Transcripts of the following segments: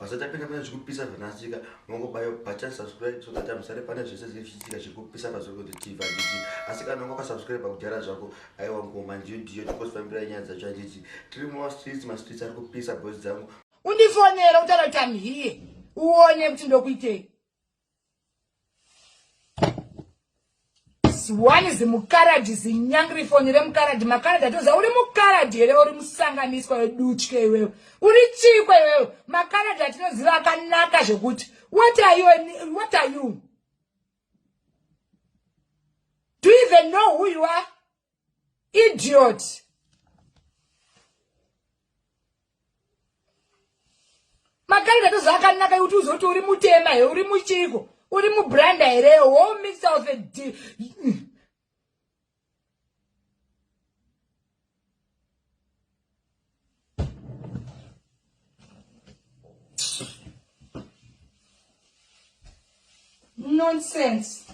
Basa tapinda pane zvekupisa zvanasika mongobayo button subscribe so that amusare pane zvese zvinenge zvichiitika zviri kupisa pazorikoti tv handiti asi kana unga wakasubscribe kudhara zvako aiwa ngoma ndiyo ndiyo tikosifambira nyaya dzacho handiti tiri mumastreets mastreets ari kupisa boys dzangu undifonera utaura kuti am here uone kuti ndokuitei one is mukaradhi zinyangri foni remukaradhi makaradhi atoziva uri mukaradhi here uri musanganiswa wedutye iwewe uri chikwa iwewe makaradhi atinoziva akanaka zvekuti what are you what are you do you even know who you are idiot makarida tozvakanaka kuti uzoti uri mutema here uri muchiko uri mubranda here wo mixer of a d Nonsense.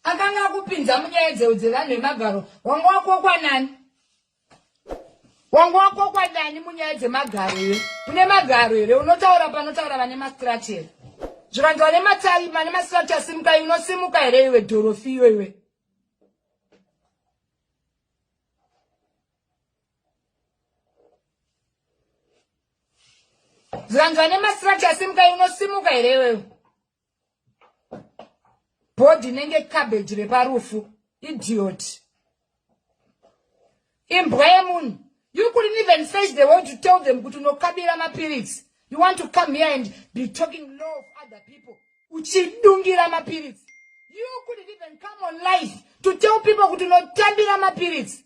akanga akupinza munyaya dzevanhu vemagaro wanga wakokwanani wanga wakokwa ndani munyaya dzemagaro here une magaro here unotaura panotaura vane mastrati here zvikanzi vane matari mane mastrati asimuka unosimuka here iwe dhorofi iyo iwe zvikanzi vane mastrati asimuka unosimuka here iwewe bhodhi inenge cabbage reparufu idiot imbwa yemunhu you couldn't even face the world to tell them kuti unokabira mapiritsi you want to come here and be talking low of other people uchidungira mapiritsi you couldn't even come on life to tell people kuti unotambira mapiritsi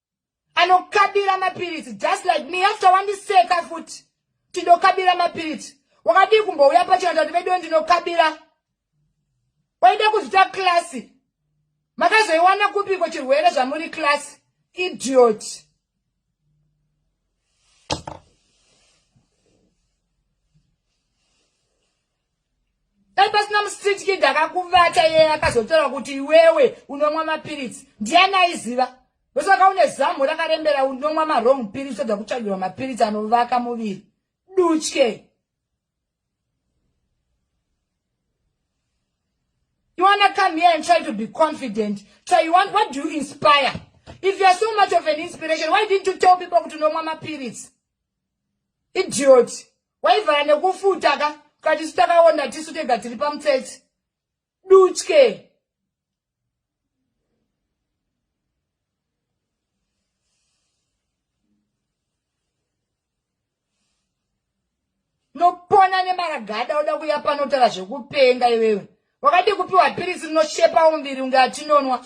anokabira mapiritsi just like me after wandiseka futi tindokabira mapiritsi wakadii kumbouya pachiranda kuti veduwe ndinokabira waida kuzvita klasi makazoiwana kupiko chirwere zvamuri klasi idiot dai pasina mustreet kid akakuvata iye akazotaura kuti iwewe unomwa mapiritsi ndiani aiziva ndosaka une zamu rakarembera unomwa marong piritsi oda kutsvagirwa mapiritsi anovaka muviri dutye You want to come here and try to be confident. So you want, what do you inspire? If you are so much of an inspiration, why didn't you tell people to know mama periods? Idiot. waivhara nekufuta ka katisu takaona tisu tega tiri pamutsetse dutye nopona nemaragada oda kuya panotaura zvekupenga iwewe wakadii kupiwa pirisi rinoshepa umbiri unge atinonwa